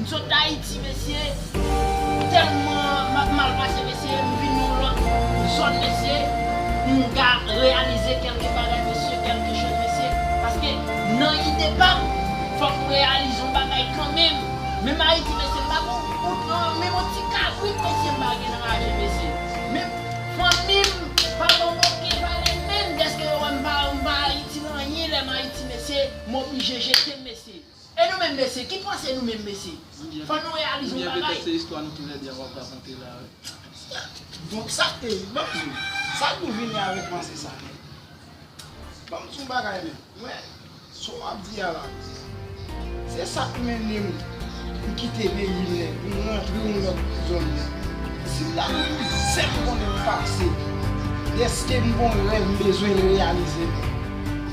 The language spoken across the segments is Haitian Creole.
M sot dayiti mesye telman map mal pase mesye m vin yon lot zòn mesye m ka reyalize kelke bagay mesye kelke choz mesye paske nan ide pam fòk m reyalize yon bagay kanmenm menm ayiti mesye m pa gen yon goud lan menm yon ti kabrit mesye m pa gen nan lajen mesye menm fanmi m pa ban m oken valè menm deske yo wèm pa m pa ayiti nan anyen lèm ayiti mesye m oblije jetem mesye. E nou menm mesye, ki panse nou menm mesye? Fò nou reyalize yon bagay. Oubyen petèt se istwa nou ki rèd ya wap rakonte la wi. Bon sa k te rive banm diw, sa k nou vini avèk panse sa menm? Banm diw yon bagay menm, mwen sa w ap di a la, se sa k mennen m pou kite peyi m nèt, pou m rantre yon lòt zòn nèt. Si m ta gen yon zen m konnen m pase, dèske m gen yon rèv m bezwen reyalize l.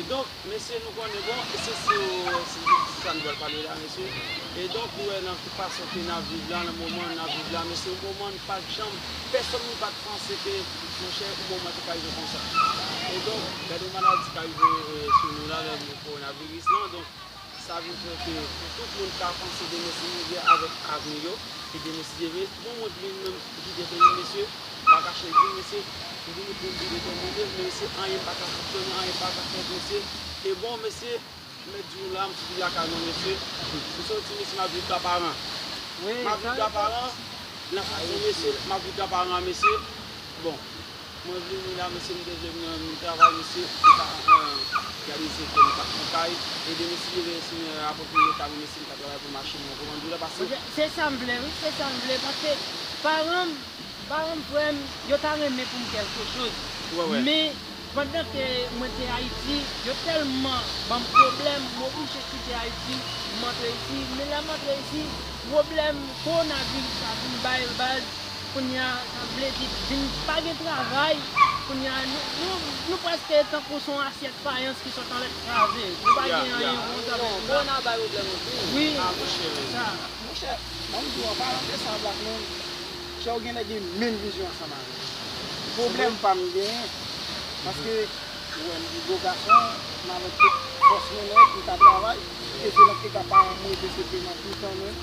E donk, mesye nou konnen bon, se sou jistis sa nou pral pale la mesye. E donk ou wè nan ki fason ke n ap viv la, nan moman n ap viv la mesye, yon moman n pat janm, pèsòn nou pat panse ke monchè yon moman te ka rive konsa. E donk, gade yon maladi k arive sou nou la, kowonaviris lan. Sa vin fè ke pou tout moun ka panse demen se mizè avèk avni yo ki demeside. Bon mwen vle menm gide peyi mesye, m pa kache l di w mesye, m vini pou m vin detèmine l mesye, anyen pa ka fonksyone, anyen pa ka fèt mesye, e bon mesye, m mèt di nou la m soti lakay mwen mesye, m soti mesye m ap viv Daparan, m ap viv Daparan nan fason mesye, m ap viv Daparan mesye, bon. Mwen vini la mesye m te jwenn yon travay mesye se pa gade se kèm tap pou kay ede m siye veye sou mwen rapò pou leta wi mesye m ka travay pou mache mwen kòmandan dou la pase. Se sam vle wi se sam vle paske paranm paranm frèm yo ta renmen poum kèlke choz men pandan ke mwen te ayiti yo tèlman banm pwoblèm m oblije kite ayiti m antre isi men lèm antre isi pwoblèm kowonaviris la vin bay baz Kounya sa vle di vin pa gen travay, kounya nou prèske tankou son asyèt fayans ki sot anlè kraze, nou pa gen anyen bon sa vle di la. Monchè, banm di w an palan de sa black man, kè w genlè gen menm vizyon ansanm avè m. Pwoblèm pa m genyen, paske ou wè m di bo gason, m avèk tout fòs mwen nèt, m ka travay, e se nan eta paran m rete se peman toutan mwen.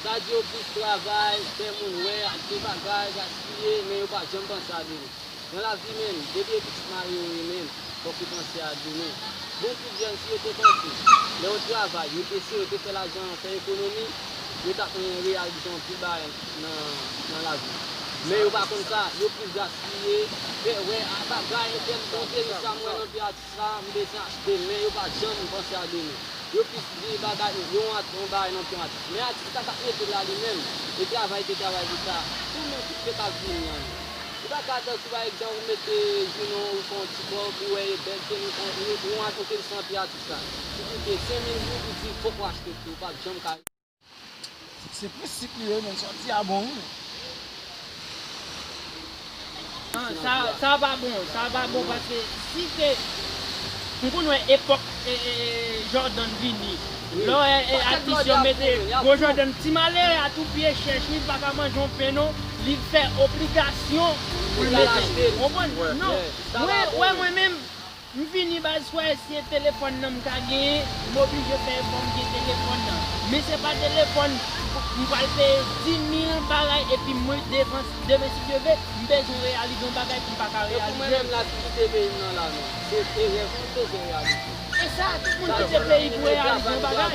Dadyo plis travay, fè moun wè, ap gen bagay, gaspiye, men yo pa janm panse a demen. Nan lavi menm, depi yo pitit mari yo ye menm, fòk yo panse a demen. Bon pou Diane si yo te panse, lè yo travay, yo eseye, yo te fè lajan an, fè ekonomi, yo t ap mwen reyalize anpil bagay nan lavi. Men yo pa konn sa, yo plis gaspiye, fè wè, a bagay entèl monte, men sa m wè nan vi a, Sa m te di a, demen, yo pa janm panse a demen. Yo plis di bagay, yon art, yon bagay nan ton art. Men atis la kap mete l la li menm, li travay te travay pou sa. Tou menm tout se kap vini an nou. Ou ta ka tankou pa egzanp ou mete jounen w ou fè yon ti kòb, ou wè e bèl, se yon art, ou te santi atis la. Li di w peye 5000 goud, ou di fòk ou achte l tou, ou pap janm ka. Se plis sik li ye men santi a bon wi. Nan sa pa bon, sa pa bon paske si se m konn wè epòk Jordan vini lò wè atis yo mete gwo Jordan ti malere a tou pye chèch li paka manje yon pen non li fè obligasyon pou l mete l konprann non mwen wè mwen menm M fini baz fwa esye telefòn nan m ka genyen m oblije fè efò m gen telefòn nan men se pa telefòn m pral peye 10000 bagay epi mwen devan demen si Dye ve m bezwen reyalize yon bagay m paka reyalize l. E sa tout moun kite peyi pou reyalize yon bagay.